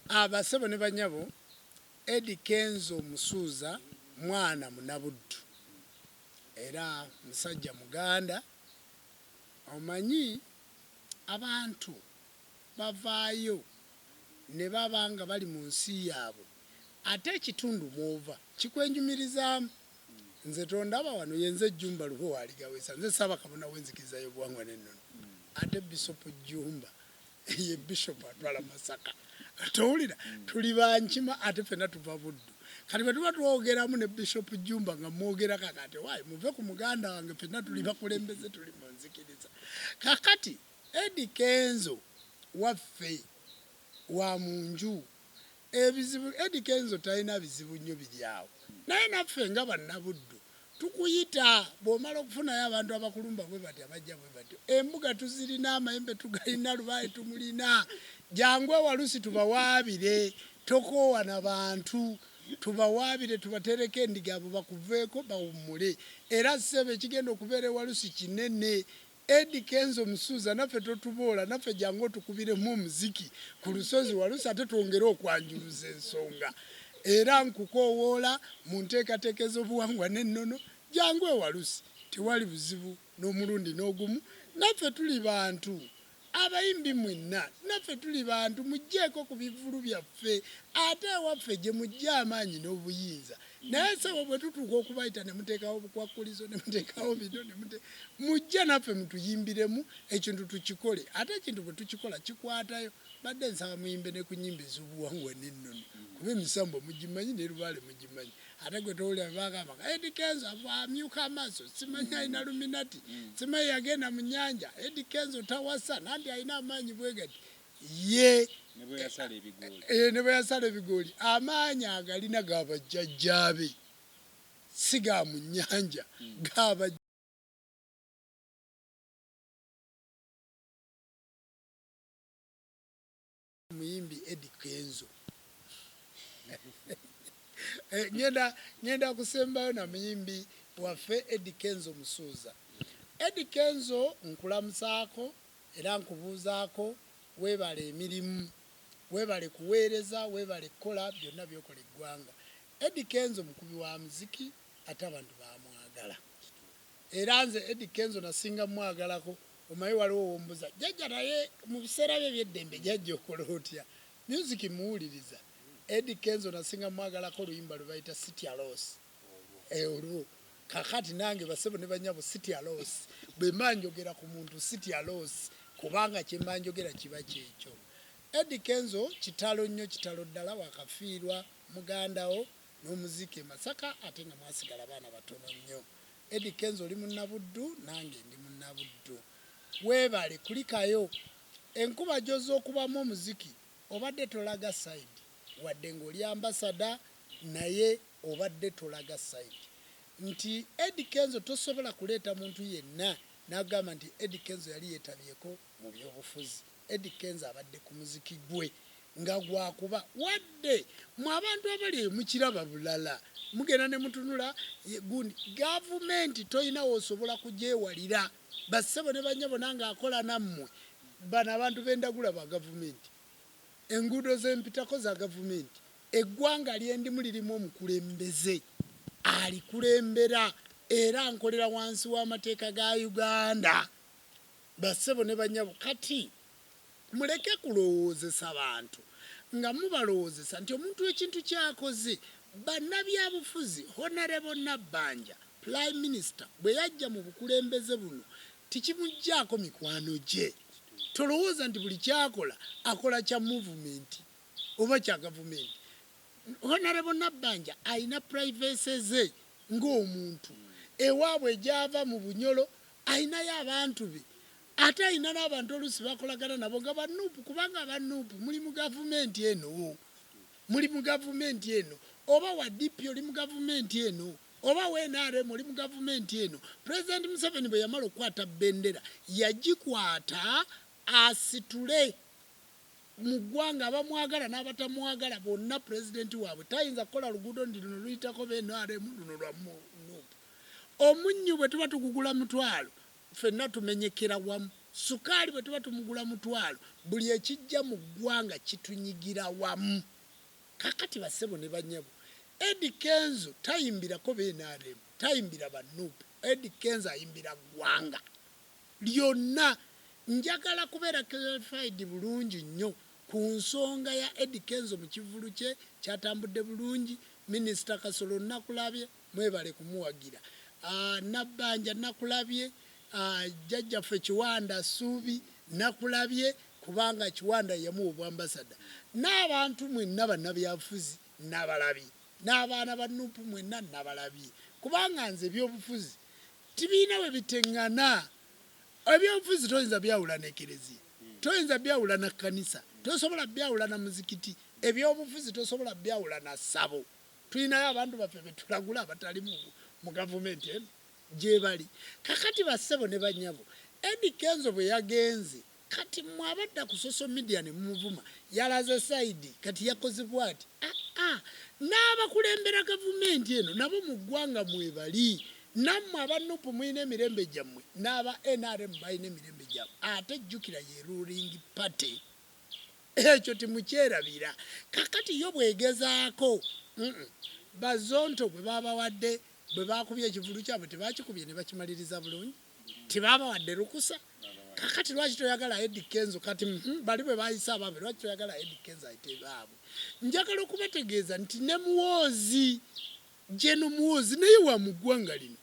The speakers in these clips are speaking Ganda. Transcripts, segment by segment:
abasebo ah, ah. ah, ne banyabo edi kenzo omusuuza mwana munabuddu era musajja muganda omanyi abantu bavaayo ne baba nga bali mu nsi yaabwe ate ekitundu mw'ova kikwenyumirizaamu. Nze tondaba wano, ye nze Jjumba Luhwe wa Aligaweesa. Nze Ssaabakabona w'Enzikiriza y'Obuwangwa n'Ennono. Ate Bisopu Jjumba ye Bisopu atwala Masaka. Towulira? Tuli ba Nkima ate ffenna tuva Buddu. Kati bwe tuba twogeramu ne Bisopu Jjumba nga mmwogera kakaati, owaaye muve ku muganda wange ffenna tuli bakulembeze, tuli mu nzikiriza. Kaakati. Eddy kenzo waffe wa munju. Ebizibu Eddy kenzo talina bizibu nnyo biri awo naye naffe nga bannabuddu tukuyita bwomala okufunayo abantu abakulumba bwebati abajja bwebatyo embuga tuzirina amayembe tugalina lubaale tumulina jangu ewalusi tubawaabire tokoowa na bantu tubawaabire tubateereko endiga abo bakuveeko bawummule era ssebo ekigenda okubeera ewalusi kinene Eddy kenzo musuuza naffe totuboola naffe jangu otukubiremu omuziki ku lusozi walusi ate twongere okwanjuluza ensonga era nkukowoola mu nteekateeka ez'obuwangwa n'ennono jangu e walusi tewali buzibu n'omulundi n'ogumu naffe tuli bantu abayimbi mwenna naffe tuli bantu mujjeeko ku bivvulu byaffe ate ewaffe gye mujja amaanyi n'obuyinza naye sebo bwe tutuuka okubayita ne muteekawo obukwakkulizo ne muteekawo bino ne mute mujja naffe mutuyimbiremu ekintu tukikole ate ekintu bwe tukikola kikwatayo badde nsaba muyimbe ne ku nyimba ez'obuwangwa n'ennono kuba emisambo mugimanyi ne lubaale mugimanyi ate gwe towulira bagamba nga edi kenzo amyuka amaaso simanyi alina luminati simanyi yagenda mu nyanja edi kenzo tawasa nanti alina amaanyi bwegati Ye eh, ne bwe yasala ebigooli amaanyi agalina ga bajjajjaabe si ga mu nnyanja hmm. ga muyimbi Eddie Kenzo eh, ngenda ngenda kusembayo na muyimbi waffe Eddie Kenzo Musuuza Eddie Kenzo nkulamusaako Era nkubuuzaako, weebale emirimu, weebale kuweereza, weebale kukola byonna by'okola eggwanga. Eddy Kenzo mukubi wa muziki ate abantu bamwagala. Era nze Eddy Kenzo nasinga mwagalako omanyi waliwo wombuza jajja naye mu biseera bye ebyeddembe jajja okola otya music muwuliriza? Eddy Kenzo nasinga mwagalako oluyimba lwe bayita Sitya Loss. Olwo kakati nange basebo ne banyabo sitya loss bwemba njogera ku muntu sitya loss kubanga kyemba njogera kiba kyekyo. Eddy Kenzo kitalo nnyo kitalo ddala wakafiirwa mugandawo nomuziika e Masaka ate nga mwasigala baana batono nnyo. Eddy Kenzo oli munna Buddu nange ndi munna Buddu. Webale kulikayo enkuba joza okubamu omuziki. Obadde tolaga side wadde nga oli ambassador naye obadde tolaga side nti Eddy Kenzo tosobola kuleeta muntu yenna nagamba nti Eddy Kenzo yali yetabyeko mu byobufuzi Eddy Kenzo abadde ku muziki gwe nga gwakuba wadde mwe abantu abali eyo mukiraba bulala mugenda nemutunula gundi gavumenti toyina wosobola kugyewalira. ba ssebo ne bannyabo nange akola nammwe, bano abantu be ndagula ba gavumenti, enguudo ze mpitako za gavumenti, eggwanga lye ndimu lirimu omukulembeze alikulembera era nkolera wansi w'amateeka ga Uganda ba ssebo ne bannyabo kati Muleke kulowoozesa bantu nga mubalowoozesa nti omuntu ekintu ky'akoze. Bannabyabufuzi, Honourable Nabbanja, Prime Minister bwe yajja mu bukulembeze buno tikimuggyaako mikwano gye. Tolowooza nti buli ky'akola akola kya Movement oba kya Gavumenti. Honourable Nabbanja alina privacy ze ng'omuntu. Ewaabwe gy'ava mu Bunyolo alinayo abantu be ate alina n'abantu oluusi bakolagana nabo nga banuupu kubanga abanuupu muli mu gavumenti eno muli mu gavumenti eno oba wa dp oli mu gavumenti eno oba wa nrm oli mu gavumenti eno pulezidenti museveni bwe yamala okukwata bendera yagikwata asitule mu ggwanga abamwagala n'abatamwagala bonna pulezidenti waabwe tayinza kukola luguudo nti luno luyitako bnrm luno lwa nuupu omunnyu bwe tuba tugugula mutwalo Ffenna tumenyekera wamu. Ssukaali bwe tuba tumugula mutwalo, buli ekijja mu ggwanga kitunyigira wamu. Kaakati bassebo ne bannyabo, Eddy Kenzo tayimbirako be nrm, tayimbira ba nup, Eddy Kenzo ayimbira ggwanga lyonna. Njagala kubeera clarified bulungi nnyo ku nsonga ya Eddy Kenzo mu kivvulu kye kyatambudde bulungi, Minisita Kasolo Nakulaabye, Mwebale kumuwagira Nabbanja nakulabye Jjajjaffe Kiwanda Ssuubi nakulabye kubanga Kiwanda yeyamuwa obwambasada n'abantu mwenna bannabyabufuzi nabalabye n'abaana ba nup mwenna nabalabye kubanga nze ebyobufuzi tibirina webitengana ebyobufuzi toyinza byawula nekerezia toyinza byawula na kkanisa tosobola byawula na muzikiti ebyobufuzi tosobola byawula na ssabo. Tulinayo abantu baffe betulagula abatali mu gavumenti eno gyebali kakati bassebo ne banyabo Eddy Kenzo bwe yagenze kati mwe abadda ku social media ne mumuvuma yalaze sayidi kati yakoze bwati ah, ah. n'abakulembera gavumenti eno nabo mu ggwanga mwebali nammwe aba nup mulina emirembe gyammwe n'aba nrm balina emirembe gyabwe ate jjukira ye ruling party Ekyo temukyerabira. Kaakati yo bw'egezaako, mm, Bazonto gwe baabawadde, bwe baakubye ekivvulu kyabwe, tebaakikubye ne bakimaliriza bulungi? Tebaabawadde lukusa? Kaakati lwaki toyagala Eddy Kenzo? Kati, mm, bali bwe baayise abaabwe, lwaki toyagala Eddy Kenzo ayite baabwe? Njagala okubategeeza nti ne Muhoozi, Gen. Muhoozi naye wa mu ggwanga lino.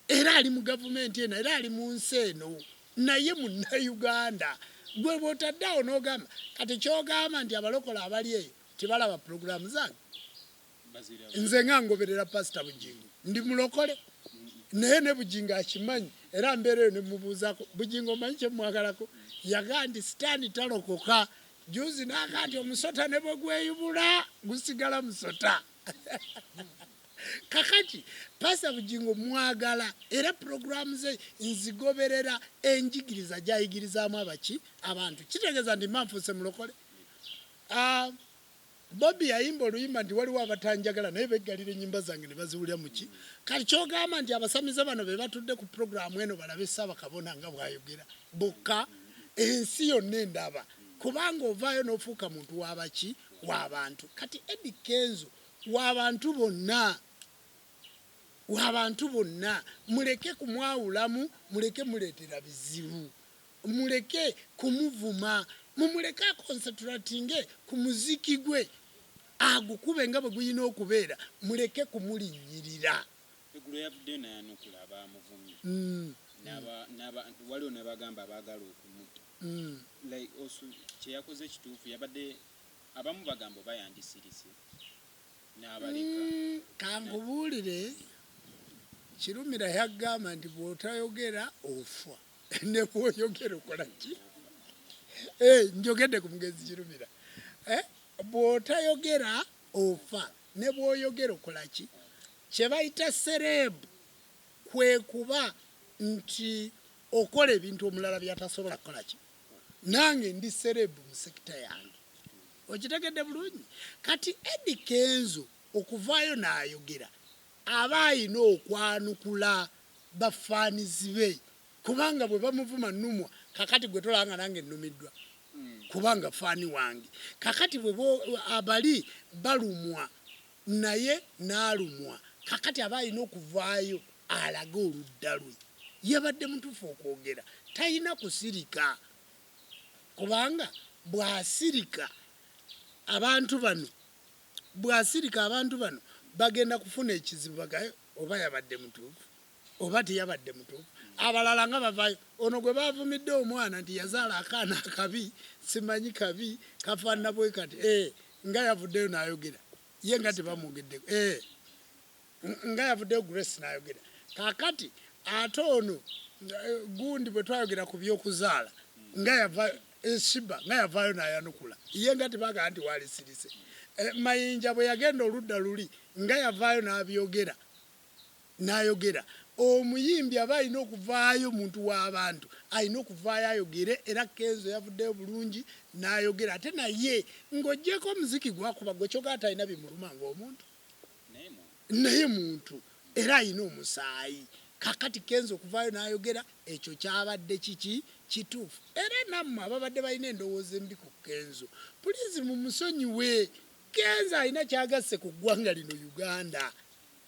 era ali mu gavumenti eno era ali mu nsi eno naye munnauganda gwe bwotadde awo nogamba kati kyogamba nti abalokola abali eyo tibalaba pulogulaamu zange nze nga ngoberera pasita bugingo ndi mulokole naye ne bugingo akimanyi era mbeera eyo nemubuuzako bugingo omanyi kyemwagalako yagaa nti sitaani talokoka juzi naga nti omusota ne bwe gweyubula gusigala musota kakati pasa bugingo mwagala era puroguramu ze nzigoberera enjigiriza gyayigirizaamu abaki abantu kitegeeza nti mba nfuuse mulokole ah, bobi yayimba oluyimba nti waliwo abatanjagala naye beggalira ennyimba zange ne baziwulira muki kati kyogamba nti abasamize bano be batudde ku puroguramu eno balabe ssaabakabona nga bwayogera bokka ensi yonna endaba kubanga ovaayo n'ofuuka muntu wabaki wa bantu kati Eddy Kenzo wa bantu bonna wa bantu bonna muleke kumwawulamu muleke muleetera bizibu muleke kumuvuma mumuleke akonsatulatinge ku muziki gwe agukube nga bwe gulina okubeera muleke kumulinnyirira eggulo yavuddeyo nayanukula abaamuvumye mm. waliwo nabagamba abaagala okumutta mm. like osu kyeyakoze kituufu yabadde abamu bagamba oba yandisirise n'abaleka mm, kankubuulire kirumira yagamba nti bwotayogera ofa nebwoyogera okola ki eh, njogedde ku mugenzi kirumira eh, bwotayogera ofa nebwoyogera okola ki kyebayita sereebu kwekuba nti okola ebintu omulala byatasobola kukola ki nange ndi serebu mu sekita yange okitegedde bulungi kati edi kenzo okuvaayo n'ayogera aba ayina okwanukula bafaanizi be kubanga bwe bamuvuma numwa kakati gwe tolaba nga nange nnumiddwa kubanga faani wange kakati bwe abali balumwa naye nalumwa kakati aba alina okuvaayo alage oludda lwe yabadde mutufu okwogera talina kusirika kubanga bwasirika abantu bano bwasirika abantu bano bagenda kufuna ekizibu bagaye oba yabadde mutufu. oba teyabadde mutuufu abalala nga bavayo ono gwe bavumidde omwana nti yazaala akaana akabi simanyi kabi kafaanana bwe kati eh, nga yavuddeyo n'ayogera ye nga tebamwogeddeko eh, nga yavuddeyo Grace n'ayogera kakati ate ono eh, gundi bwe twayogera ku by'okuzaala nga yava eh, shiba nga yavaayo n'ayanukula ye nga tebagala nti waalisirise eh, mayinja bwe yagenda oludda luli nga yavaayo n'abyogera nayogera omuyimbi aba alina okuvaayo muntu wabantu alina okuvaayo ayogere era kenzo yavuddeyo bulungi nayogera ate naye nga ojjeeko omuziki gwakuba gwe kyoka atalina bimuluma nga omuntu naye muntu era alina omusaayi kakati kenzo okuvaayo nayogera ekyo kyabadde kiki kituufu era nammwe ababadde balina endowooza embi ku kenzo pulizi mumusonyiwe kenzo alina kyagasse ku ggwanga lino uganda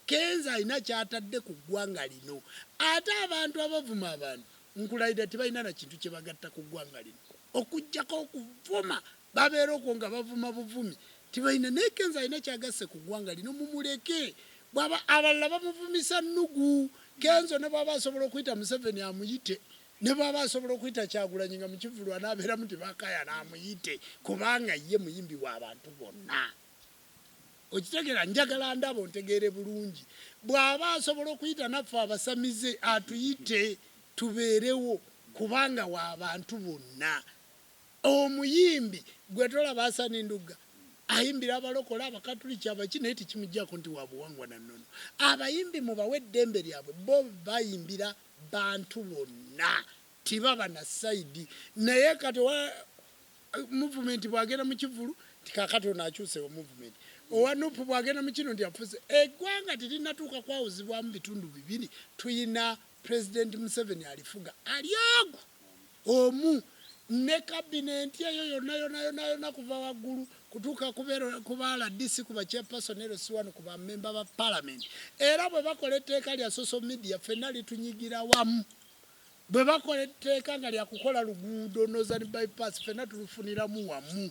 Kenzo alina kyatadde ku ggwanga lino ate abantu abavuma abantu nkulayirira tebalina na kintu kyebagatta ku ggwanga lino okujjako okuvuma babeera okwo nga bavuma buvumi tebalina naye Kenzo alina kyagasse ku ggwanga lino mumuleke bwaba abalala bamuvumisa nnugu Kenzo ne bwaba asobola okuyita Museveni amuyite ne bwaba asobola okuyita Kyagulanyi nga mu kivvulu anaaberamu tebakayana amuyite kubanga ye muyimbi wa bantu bonna. okitegera njagala ndaba ontegeere bulungi bw'aba asobola okuyita naffe abasamize atuyite tubeerewo kubanga wa bantu bonna omuyimbi gwe tolaba asani ndugga ayimbira abalokole abakatuliki abaki naye tekimujjako nti wabuwangwa na nnono abayimbi mubawe eddembe lyabwe bo bayimbira bantu bonna tibaba na saidi naye kati movement bwagenda mu kivulu nti kakati ono akyusewo movement owa nup bwagenda mu kino nti afuuse eggwanga terinatuuka kwawuzibwamu bitundu bibiri tuyina president museveni alifuga alyogu omu ne kabinenti eyo yonna yona yona yona kuva waggulu kutuuka kubaala dc ku bachairperson ero si wano ku bamemba ba palamenti era bwe bakola etteeka lya social media fenna litunyigira wamu Bwe bakola etteeka nga lya kukola luguudo Northern Bypass ffenna tulufuniramu wamu,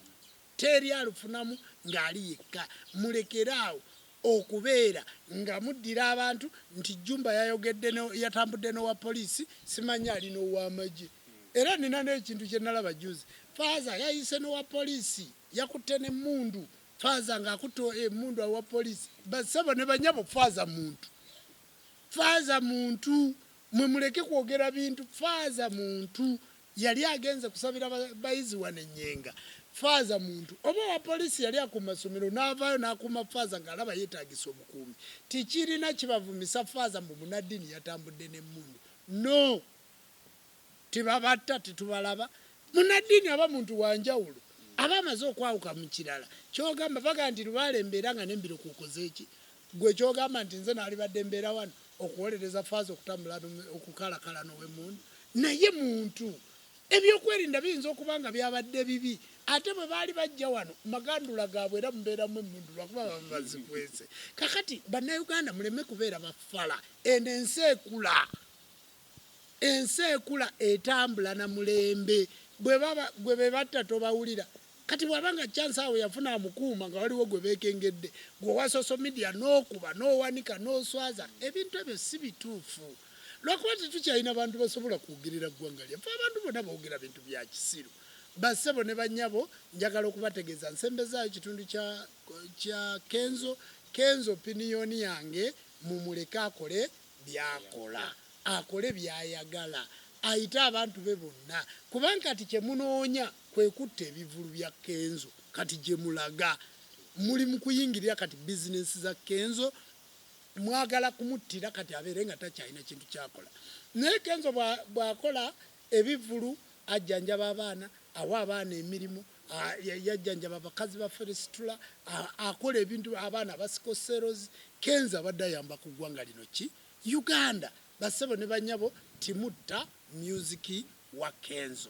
teri alufunamu ng'ali yekka. Mulekere awo okubeera nga muddira abantu nti Jjumba yayogedde ne yatambudde n'owa poliisi simanyi ali n'owamagye. Era nnina n'ekintu kye nalaba jjuuzi, Faaza yayise n'owa poliisi yakutte n'emmundu, Faaza ng'akutte emmundu owa poliisi. Bassebo ne bannyabo Faaza muntu. Faaza muntu. Mwe muleke kwogera bintu faaza muntu yali agenze kusabira bayizi wano enyenga faaza muntu oba owa poliisi yali akuuma somero naavaayo nakuuma faaza ng'alaba yetaagisa obukuumi tikirina kibavumisa faaza mbu munaddiini yatambudde n'emmundu no tebabatta tetubalaba munaddiini aba muntu wanjawulo aba amaze okwawuka mu kirala kyogamba baga nti lubaale embeera nga nembiro kukozeeki Gwe kyogamba nti nze nalibadde mbeera wano okuwolereza faaza okutambula okukalakala nowemundu naye muntu ebyokwerinda biyinza okuba nga byabadde bibi ate bwe baali bajja wano magandula gaabwe era mubeeramu emundu lwakuba baba bazikwese kakati bannayuganda muleme kubeera bafala eno ensi ekula ensi ekula etambula na mulembe gwe bebatta tobawulira kati bwaba nga chance awo yafuna amukuuma nga waliwo gwe bekengedde gwe wa social media nokuba nowanika noswaza ebintu ebyo si bituufu lwakuba tetukyalina bantu basobola kwogerera ggwanga lyaffe abantu bona bogera bintu bya kisiru bassebo ne banyabo njagala okubategeeza nsembezaayo kitundu kya, kya kenzo kenzo piniyoni yange mumuleke akole byakola, akole byayagala, ayite abantu be bonna kubanga kati kyemunoonya kwekutta ebivvulu bya Kenzo kati gyemulaga muli mukuyingirira kati business za Kenzo mwagala kumuttira kati abeere nga takyalina kintu kyakola naye Kenzo bwakola ebivvulu ajjanjaba abaana awa abaana emirimu yajjanjaba bakazi ba feresitula, akola ebintu abaana abasiko seros, kenzo abadde ayamba ku ggwanga lino ki Uganda bassebo ne banyabo timutta music wa kenzo.